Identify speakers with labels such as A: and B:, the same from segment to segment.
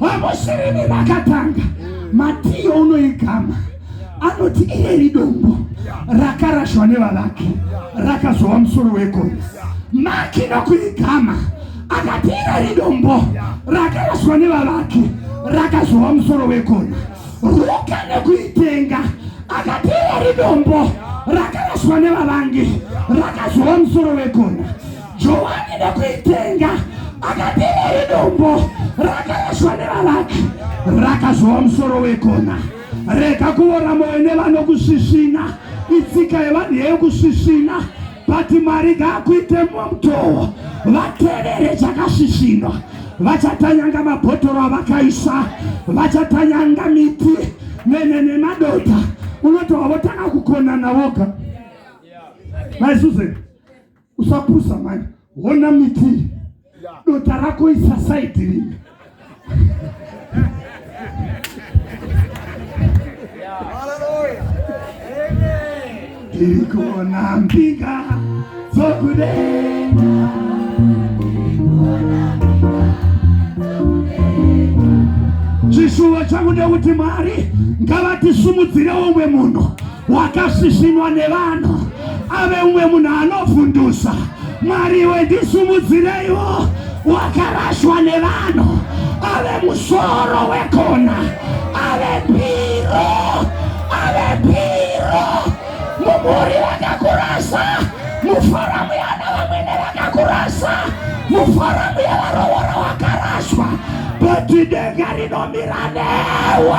A: Vavoshereni vakatanga matiyo unoigama anoti ireri dombo rakarashwa nevavaki rakazova musoro wegore maki nokuigama akati ireri dombo rakarashwa nevavaki rakazova musoro wegona ruka nekuitenga akati ireri dombo rakarashwa nevavangi rakazova musoro wegona Johani ndokuitenga akatera idombo rakaraswa nevavaki rakazova musoro wekona rega kuora moyo nevanokusvisvina itsika yevanhu yeyokusvisvina but mwari ngaakuite mumwe mutowo vatevere chakasvisvinwa vachatanyanga mabhotoro avakaisa vachatanyanga miti mene nemadota unotova votanga kukonana voga maisuzen usapusa mani hona miti dota rako isasaidi rimwe tiri kuona mbinga dzokudenga chishuwo changu ndekuti mwari ngavatisimudzirewo umwe munhu wakasvisvinwa nevanhu ave umwe munhu anovhundusa mwari iwe ndisumudzireiwo wakarashwa nevanhu ave musoro wekona ave piro ave piro mumhuri vakakurasa muforamu yana vamwene vakakurasa muforamu yevarovora wakaraswa but denga rinomira newe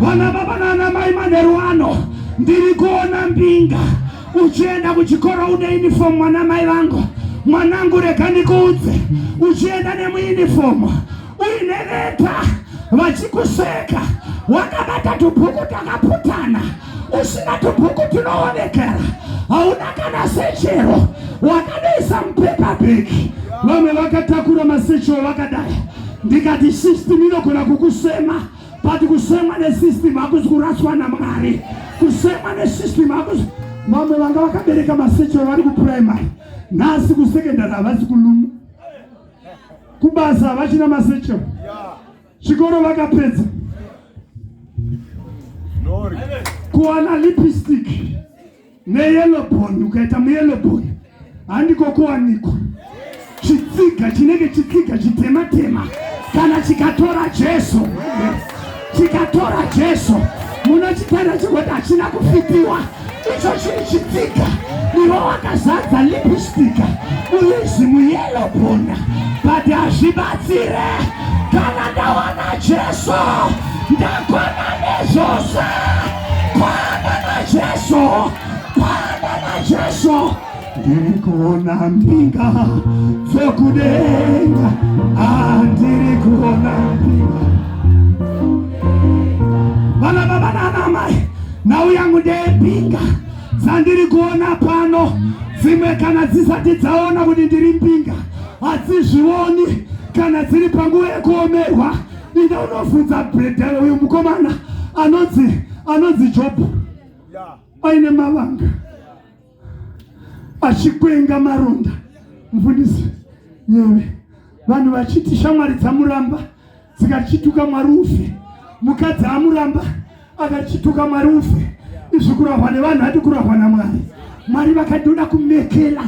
A: vana baba nana mai manheru ano ndiri kuona mbinga uchienda kuchikoro une uniform mwana mai vangu mwanangu rega ndikuudze uchienda nemuunifomu uine leta vachikuseka wakabata tubhuku takaputana usina tubhuku tunoonekera hauna kana sechero wakadaisa mupepa bheki vamwe vakatakura masechero vakadai ndikati system inogona kukusema but kusemwa nesystem hakuzi kuraswa namwari kusemwa nesystem hakuzi vamwe vanga vakabereka masechero vari kuprimary nhasi kusekendari havasi kuluma kubasa havachina masechero yeah. Chikoro vakapedza kuwana lipstick neyellow bone ukaita muyellow bone handiko kuwanikwa chitsiga chinenge chitsiga chitema tema kana chikatora Jesu chikatora Jesu munochitenda chekuti hachina kufitiwa icho chiri chitsika ivo wakazadza lipistika uizi muyelo bhona but hazvibatsire kana ndawana jesu ndakwana nezvose kwana najesu kwana najesu ndirikuona mbinga dzokudenga andiri ah, kuona mbinga vana baba nanamai nhau yangu ndeyembinga dzandiri kuona pano dzimwe kana dzisati dzaona kuti ndiri mbinga hadzizvioni kana dziri panguva yekuomerwa ida unofunza bredhara uyu mukomana anonzi anonzi jobho aine mavanga yeah. achikwenga maronda mufundisi nyeve vanhu vachiti shamwari dzamuramba dzikachituka mwari ufe mukadzi amuramba akachituka mwari ufe izvi kurahwa nevanhu ati kurahwa namwari mwari vakati ndoda kumekela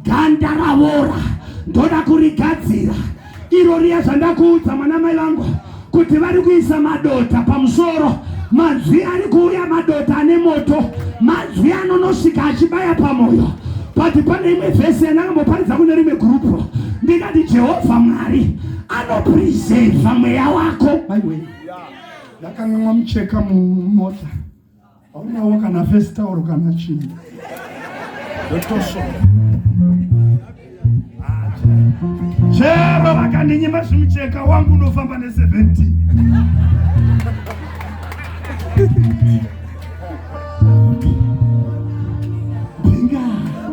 A: ganda ravora ndoda kurigadzira iro riya zvandakuudza mwana mai vangu kuti vari kuisa madota pamusoro manzwi ari kuuya madota ane moto manzwi anonosvika achibaya pamoyo but pane imwe vhesi yandakamboparidza kune rimwe gurupu ndikati jehovha mwari anopreseva mweya wako maiwei
B: ndakanganwa mucheka mumota haunawo kana face tauro kana chii
A: chero vakandinyima zvimucheka wangu unofamba ne17 Binga.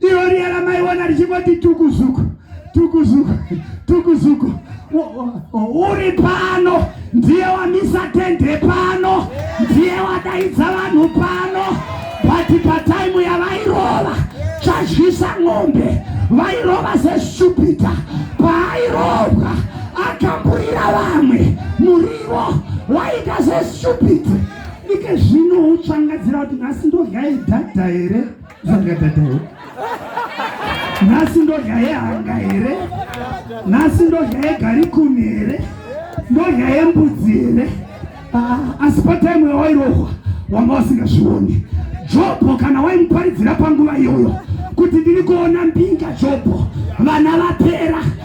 A: Iro riya ramaiona richingoti tukuzuku tukuzuku tukuzuku uri pano ndiye wamisa tende pano ndiye wadaidza vanhu pano bati pataimu yavairova chazhisa ng'ombe vairova sestupita paairovwa akamburira vamwe murivo waita sestupita ike zvino utsvangadzira kuti nhasi ndogaidhadha here Zvangadadao. Nhasi ndodya yehanga here? Nhasi ndodya yegarikuni here? Ndodya yembudzi here? Ah, asi pataimu yawairohwa wanga usingazvioni. Jobho kana waimuparidzira panguva iyoyo kuti ndiri kuona mbinga Jobho vana vapera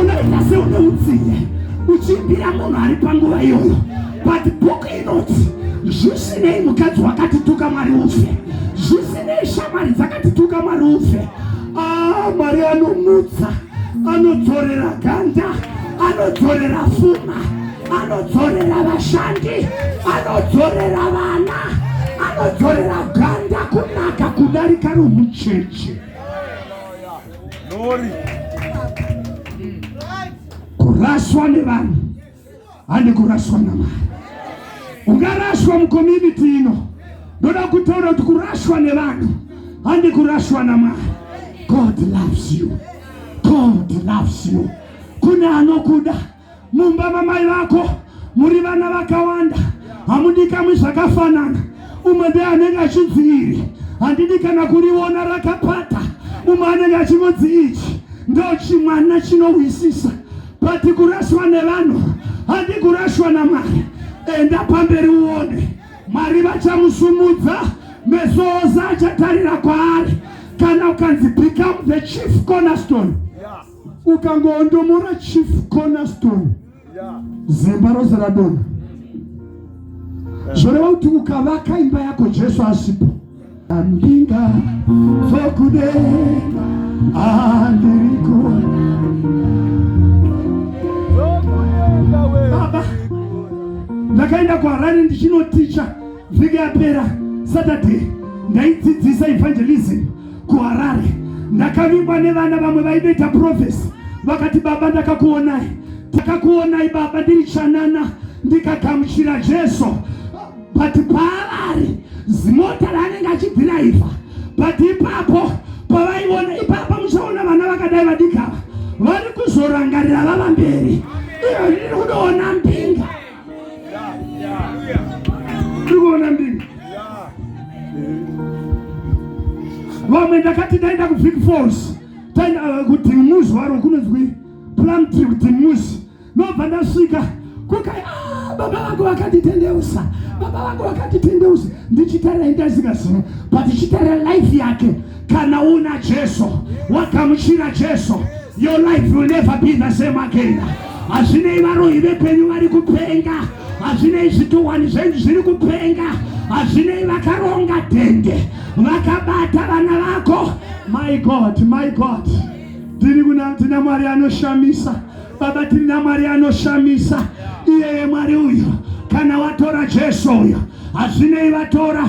A: unoita seune utsinye uchimbira munhu ari panguva iyoyo but bhuku inoti zvisinei mukadzi wakatituka mwari ufe zvisinei shamwari dzakatituka mwari ufe ah, mwari anomutsa anodzorera ganda anodzorera fuma anodzorera vashandi anodzorera vana anodzorera ganda kunaka kudarika romucheche kuraswa nevanhu handi kuraswa namari ungaraswa mukomuniti ino ndoda kutaura kuti kuraswa nevanhu handi kuraswa namari god loves you god loves you kune anokuda mumba mamai vako muri vana vakawanda hamudikamwi zvakafanana umwe be anenge achinziiri handidi kana kuriona rakapata umwe anenge achingonzi ichi ndochimwana chinohwisisa but kuraswa nevanhu handi kurashwa namwari enda pamberi uone mwari vachamusumudza meso ose achatarira kwaari kana ukanzi become the chief cornerstone yeah. ukangoondomora chief cornerstone zimba rose radona zvoreva kuti ukavaka imba yako jesu asipo andinga dzokudenga andiriko baba ndakaenda kuharare ndichinoticha vhiki yapera saturday ndaidzidzisa evangelism kuharare ndakavingwa nevana vamwe vaidoita profesi vakati baba ndakakuonai takakuonai baba ndiri chanana ndikagamuchira jesu but paavari zimota raanenge achidhiraivha but ipapo pavaiona ipapa muchaona vana vakadai vadikava vari kuzorangarira vava mberi iyo ndiri kudoona mbinga tiri kuona ndimi vamwe ndakati ndaenda kubig falls uh, kuti muzi waro kunonzwi plumtree kuti muzi nobva ndasvika kuka ah, baba vangu vakanditendeusa baba vangu vakanditendeusa ndichitarira indaziva zino but chitarira life yake kana una jesu wagamuchira jesu your life will never be the same again hazvinei varoyi vepenyu vari kupenga hazvinei zvituhwani zvenyu zviri kupenga hazvinei vakaronga dende vakabata vana vako my god my god tiri kuna tina mwari anoshamisa baba tiri namwari anoshamisa iyeye mwari uyo kana watora jesu uyo hazvinei vatora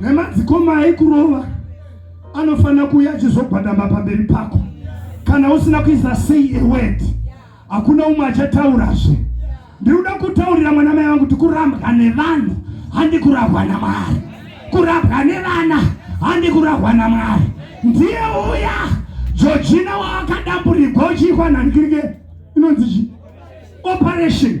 A: nemadzikoma aikurova anofanira kuuya achizogwadama pamberi pako kana usina kuisa sei eword hakuna umwe achataurazve ndikuda kutaurira mwana mai vangu kuti kurambwa nevanhu handi kurahwa namwari kurambwa nevana handi kurahwa namwari ndiye uya jojina waakadamburigwa uchiikwa nhanikirike inonzi chi operation